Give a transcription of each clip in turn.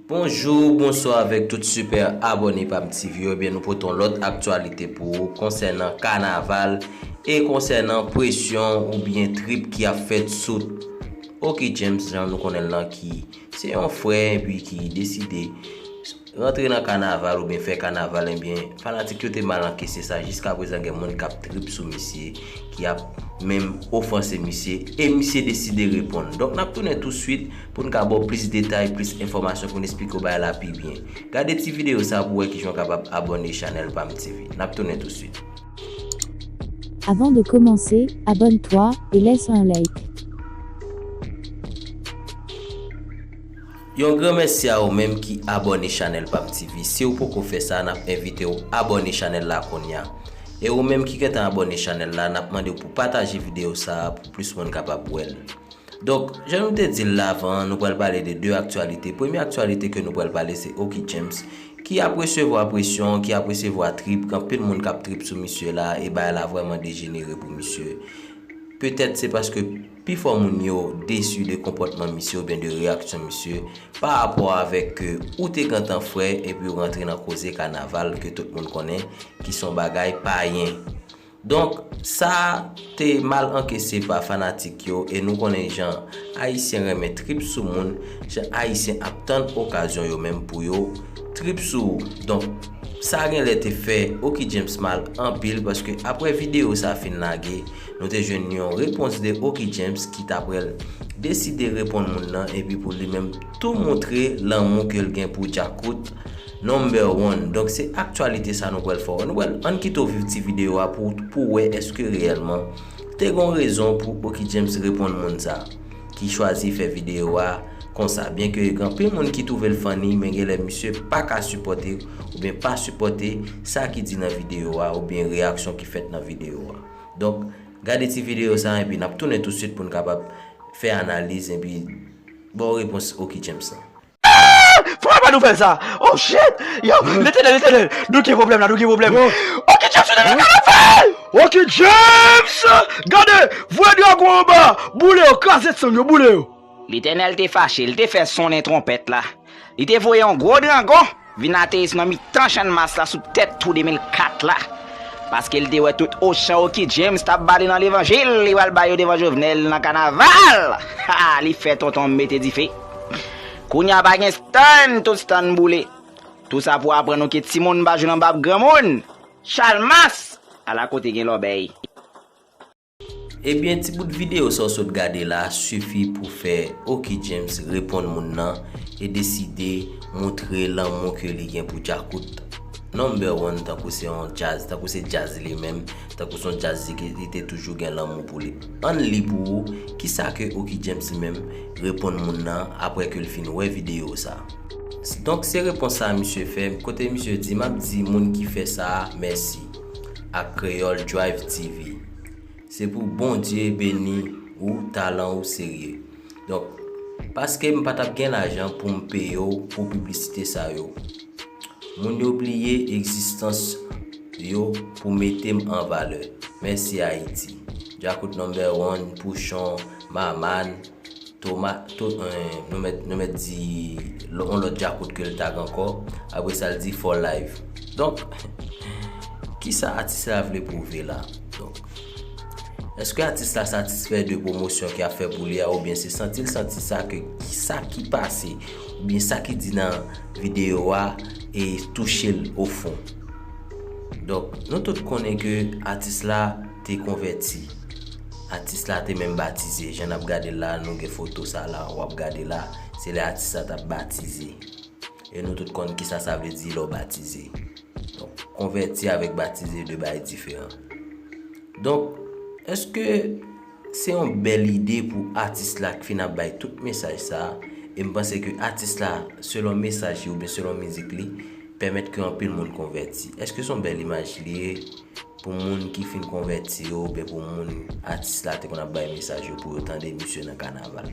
Bonjou, bonswa avèk tout sipè abòne PamTv yo, ebyen nou pote yon lòt aktyalite pou ou konsènan kanaval e konsènan presyon oubyen trip ki ap fèt sou Oky James jan nou konnen l lan ki se yon frè epi ki deside Rantre nan kanaval oubyen fè kanaval enbyen fanatik yo te mal ankese sa jiskaprezan gen moun kap trip sou misye ki ap menm ofanse misye e misye deside reponn donk nap tounen touswit poun ka baw plis detay plis enfòmasyon poun esplike w bagay la pi byen gade ti videyo sa pou wè kijan w kapab abòne chanèl pam TV nap tounen touswit. Avant de commencer, abonne toi et laisse un like. Yon gran mèsi a ou menm ki abòne chanèl pam TV siw poko fè sa nap envitew abòne chanèl la kounya e ou menm ki gentan abòne chanèl la nap mandew pou pataje video sa pou plis moun kapab wèl donk jan nou te dil la avan an nou pral pale de 2 aktyalite premye aktyalite ke nou pral pale se Oky James ki ap resevwa presyon ki ap resevwa trip gen anpil moun kap trip sou misye la e bagay la vrèman dejenere pou misye petèt se paske Pifò moun yo desu de konpòtman misye oubyen de reyaksyon misye pa rapò avèk ke ou te gentan frè epi ou rantre nan koze kanaval ke tout moun konnen ki son bagay payen. Donk sa te mal ankese pa fanatik yo e nou konnen jan Ayisyen renmen trip sou moun, jan Ayisyen ap tann okazyon yo menm pou yo trip sou ou. Donk sa genlè te fè Oky James mal anpil paske aprè video sa fin lage, Nou te jwenn yon repons de Oky James ki ta prèl deside reponn moun nan epi pou li menm tou moutre lanmou ke l gen pou Djakout Number One. Donk se aktyalite sa nou pral fè w wè. Ann kite w viv ti videyo a pou pou w wè eske reyèlman te gon rezon pou Oky James reponn moun sa ki chwazi fè videyo a konsa byen ke gen anpil moun ki twouve l funny men genlè misye pa ka sipòte oubyen pa sipòte sa ki di nan videyo a oubyen reyaksyon ki fèt nan videyo a. Donk, gade ti videyo sa a enpi n ap tounen tousuit pou n kapab fè analiz enpi ba w repons Oky James lan. Eeeeh! Pran pa nouvèl sa a! Oh shit! Yo! Letènèl, Letènèl! Nou gen pwoblèm la, nou gen pwoblèm! Oky James tounen nan kanapel! Oky James! Gade! Voye dragon anba a! Boule yo, kraze san yo, boule yo! Letènèl te fache, li te fè sonnen twonpèt la, li te voye yon gwo drangon vin ateris nan mitan Channmas la sou tèt Twou 2004 la, paske li te wè tout ochan Oki James t ap bale nan levanjil li pral bay yo devan Jovenel nan kanaval! Ha! li fè tonton mete dife. Kounye a pa gen stann, tout stann boule. Tou sa pou aprann nou ke timoun pa jwe nan bab granmoun! Chalmas! Ala kote gen lòbèy! Ebyen ti bout video sa w sot gade la sifi pou fè Oky James reponn moun nan e deside moutre lanmou ke li gen pou Djakout number one tankou se yon djaz, tankou se djaz li menm, tankou se yon djaz li ke li te toujou gen lanmou pou li. Ann li pou ou kisa ke Oky James li menm reponn moun nan aprè ke l fin wè video sa. Donk se repons sa misye fè, kote misye di, m ap di moun ki fè sa a mèsi. ak Creole Drive TV se pou Bondye beni ou talan ou serye donk paske m patap gen lajan poum peye w pou piblisite sa yo moun yo bliye egzistans yo pou mete m an valè mèsi Ayiti Djakout number one Pouchon Maman Toma, To, Nou mèt, nou mèt di on lòt djakout ke l tag ankò, apre sa l di For Life. Donk, kisa atis la vle pwouve la? Donk, èske atis la satisfè de pwomosyon ki ap fè pou li a oubyen se santi l santi sa ke sa ki pase oubyen sa ki di nan videyo a e touche l ofon? Donk, nou tout konnen ke atis la. Te konvèti. Atis la te menm batize. Jan n ap gade l la a, nou gen foto sa la w ap gade la a, se lè atis la t ap batize. E nou tout konn kisa sa vle di lè w batize. Donk, konvèti avèk batize de bagay diferan. Donk, èske se yon bèl ide pou atis la k fin ap bay tout mesaj sa a? E m panse ke atis la, selon mesaj li oubyen selon mizik li, pèmèt ke anpil moun konvèti. Èske se yon bèl imaj li ye? Pou moun ki fin konvèti yo oubyen pou moun atis la te konn ap bay mesaj yo pou yo tande misye nan kanaval.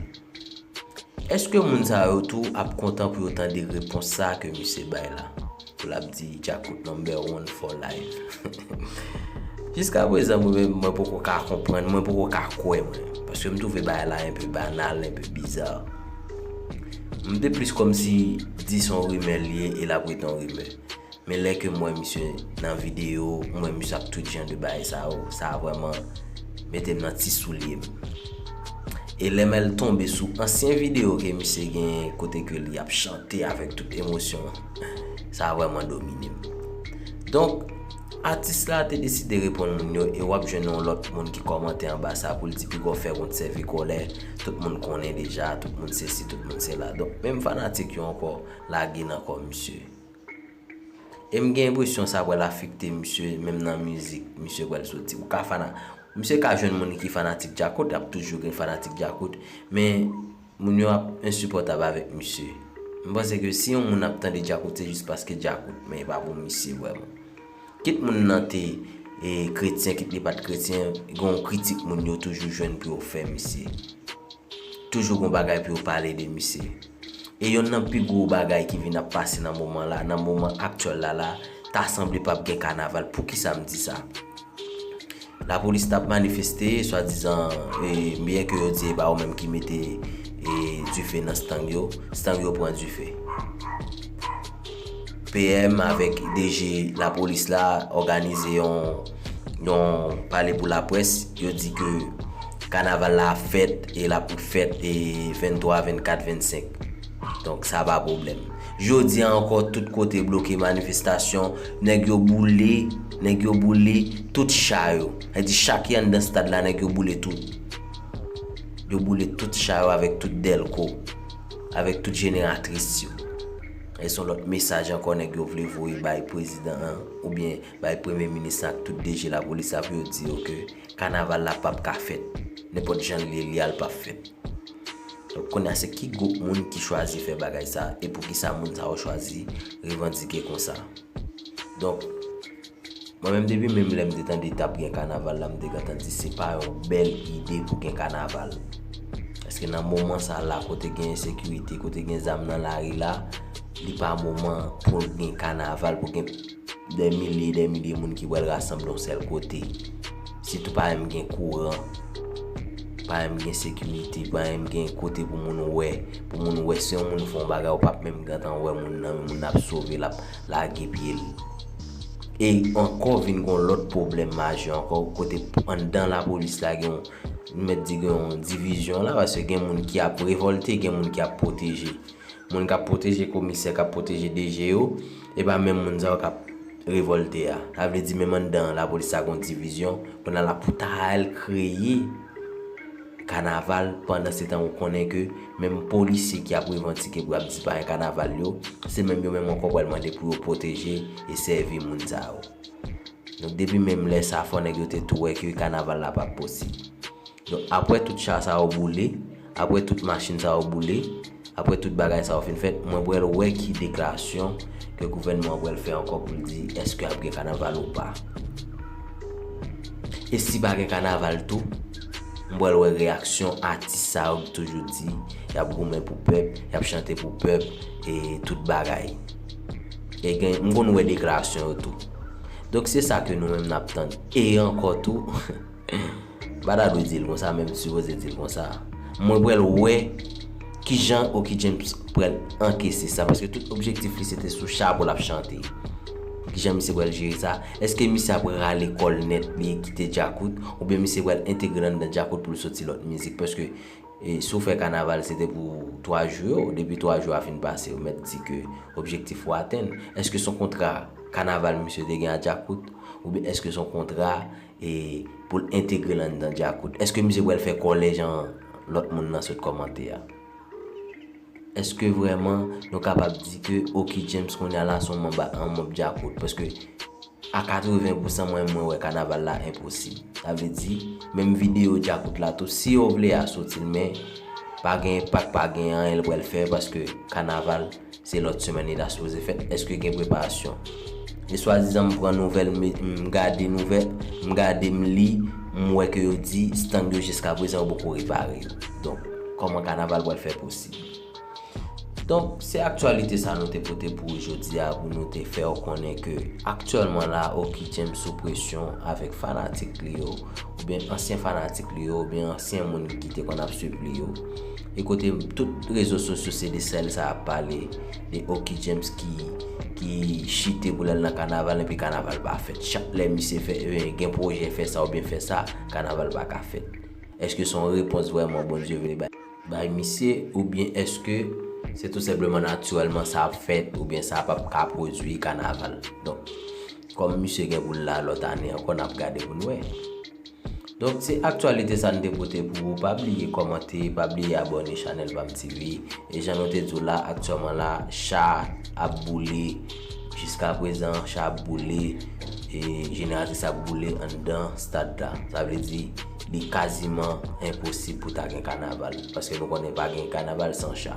Eske moun sa yo tou ap kontan pou yo tande repons sa ke misye bay la? Pou lap di Djakout number one for life. Jiska prezan mwen menm mwen poko ka konprann, mwen poko ka kwè mwen. Paske m twouve bagay la enpe banal, enpe bizar. M te plis kòmsi di son rimè l ye e lap rete yon rimè. Men lè kem wè misye nan video, m wè misye ap tout jan de bagay sa yo, sa vrèman metem nan ti soulyem. E lè mwen tonbe sou ansyen video ke misye genyen kote ke li ap chante avèk tout emosyon, sa vrèman dominem. Donk, atis la te deside reponn moun yo e wap jwenn yon lòt moun ki kòmante anba sa pou l di Pigaw fè wont sèvi kòlè, tout moun konnen deja, tout moun sesi, tout moun sela. Donk, menm fanatik yo ankò lage nan kò misye. E m gen enpresyon sa pral afekte misye menm nan mizik misye pral soti. Ou ka fana, misye ka jwenn moun ki fanatik Djakout, ap toujou gen fanatik Djakout, men moun yo ap ensipòtab avèk misye. M panse ke si yon moun ap tande Djakout se jis paske Djakout, men e pa pou misye vrèman. Kit moun nan te kretyen kit li pat kretyen gen yon kritik moun yo toujou jwenn pou yo fè misye. Toujou gen yon bagay pou yo pale de misye. E yonn nan pi gwo bagay ki vin ap pase nan moman la, nan moman aktyèl la la, ta sanble pap gen kanaval. Poukisa m di sa? Lapolis tap manifeste swadizan byen ke yo di e pa yo menm ki mete dife nan stang yo, stang yo pran dife. PM avèk DG lapolis la òganize yon pale pou laprès, yo di ke kanaval la ap fèt e lap fèt 23, 24, 25. Donk sa pa pwoblèm. Jodi a ankò tout kote bloke manifestasyon, nèg yo boule, nèg yo boule tout cha yo. Sa vle di cha ki anndan stad la nèg yo boule tout. Yo boule tout cha yo avèk tout dèlko, avèk tout jeneratris yo. E son lòt mesaj ankò nèg yo vle voye bay prezidan an oubyen bay premye minis lan ak tout DG lapolis la pou yo di yo ke kanaval la pap ka fèt. Nenpòt jan l ye li a l pap fèt. Kounya se ki gwoup moun ki chwazi fè bagay sa e poukisa moun sa yo chwazi revandike konsa? Donk, mwen menm depi menm lè m te tande t ap gen kanaval la m te gentan di se pa yon bèl ide pou gen kanaval. Paske nan moman sa la kote gen ensekirite, kote gen zam nan lari la, li pa moman pou gen kanaval, pou gen. Dè milye, dè milye moun ki pral rasanble yon sèl kote. Sitou pa menm gen kouran, pa menm gen sekirite, pa menm gen kote pou moun wè. Pou moun wè si yon moun fè yon bagay ou pap menm gentan wè moun nan, moun nan ap sove, l ap lage pye l. E ankò vin gen yon lòt pwoblèm majè ankò kote anndan lapolis la gen yon, m mèt di gen yon divizyon la paske gen moun ki ap revòlte, gen moun ki ap pwoteje. Moun k ap pwoteje komisè, k ap pwoteje DG yo. E pa menm moun sa yo kap revolte a. Sa vle di menm anndan la polis sa gon divizyon. Kounya la pou ta al kreye kanaval pandan se tan ou konnen ke menm polisye ki ap revantike pou ap di pa gen kanaval yo, se menm yo menm ankò pral mande pou yo pwoteje e sèvi moun sa yo. Donk depi menm lè sa fò nèg yo te tou wè ke kanaval la pap posib. Donk apwè tout cha sa yo boule. Aprè tout machin sa yo boule, aprè tout bagay sa yo fin fèt, mwen pral wè ki deklarasyon ke gouvènman an pral fè ankò pou l di èske ap gen kanaval ou pa. E si pa gen kanaval tou, m pral wè reyaksyon atis sa yo ki toujou di y ap goumen pou pèp, y ap chante pou pèp e tout bagay. E gen, m konn wè deklarasyon yo tou. Donk se sa ke nou menm n ap tann. E ankò tou. M pa ta dwe di l konsa men m sipoze di l konsa. Mwen pral wè ki jan Oky James pral ankese sa paske tout objektif li se te sou chapo l ap chante. Ki jan misye pral jere sa? Eske misye ap rale kò l nèt li kite Djakout oubyen misye pral entegre l anndan Djakout pou l soti lòt mizik paske si w fè kanaval se te pou 3 jou yo depi 3 jou a fin pase ou mèt di ke objektif ou atenn. Eske s on kontra kanaval misye te gen a Djakout oubyen eske s on kontra E pou l entegre l anndan Djakout. Eske mizik pral fè kòlè jan lòt moun nan sot kòmante a? Eske vrèman nou kapab di ke Oky James kounya la son manba an manb Djakout? Paske a 80 pou san mwen mwen wè kanaval la enposib. Sa vle di, menm videyo Djakout la tou si yo vle a soti l men pa gen enpak pa gen anyen l pral fè paske kanaval. Se lòt semèn li ta sipoze fèt, èske gen preparasyon? E swadizan m pran nouvèl, m gade nouvèl, m gade, m li, m wè ke yo di stand yo jiskaprezan yo poko repare yo. Donk, kòman kanaval pral fè posib? Donk, se aktyalite sa nou te pote pou ou jodi a pou nou te fè ou konnen ke aktyèlman la Oky James sou presyon avèk fanatik li yo oubyen ansyen fanatik li yo oubyen ansyen moun ki te konn ap swiv li yo. E kote tout rezo sosyo se de sèl sa ap pale de Oky James ki chite pou lal nan kanaval epi kanaval pa fèt. Chak lè misye fè gen pwojè fè sa oubyen fè sa, kanaval pa ka fèt. Eske son repons vrèman Bondye vle bay? Bay misye oubyen eske se tou senpleman natirèlman sa ap fèt oubyen sa ap ap ka pwodwi kanaval. Donk kòm misye gen pou l la lòt ane ankò nap gade pou n wè. Donk se aktyalite sa n te pote pou ou pa bliye kòmante pa bliye abòne chanèl pam TV e jan nou te di w la aktyèman la cha ap boule jiskaprezan cha ap boule e jeneratris ap boule anndan stad la sa vle di li kaziman enposib pou ta gen kanaval paske nou konnen pa gen kanaval san cha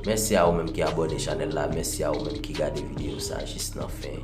mèsi a ou menm ki abòne chanèl la mèsi a ou menm ki gade videyo sa jis nan fen.